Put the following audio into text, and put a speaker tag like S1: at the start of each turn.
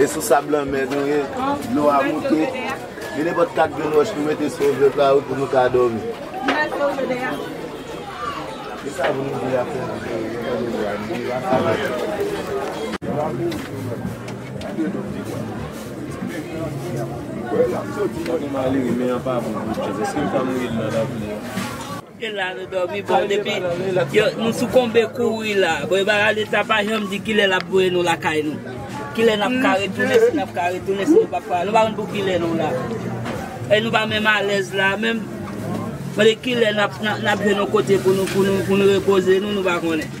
S1: E sou sab lanmè nou ye, dlo a moute. Gen nenpòt kat grenn wòch nou mete sou yon vèt la wi pou nou ka dòmi.
S2: Gen la nou domi bon depi yo nou soukonbe kouri la bon yo pa leta pa janm di kilè lap voye nou lakay nou kilè nap ka retounen si nap ka retounen si nou pap ka nou pa konn pou kilè nou la e nou pa menm alèz la menm mande kilè nap nap jwenn yon kote pou nou pou nou pou nou repoze nou nou pa konnen.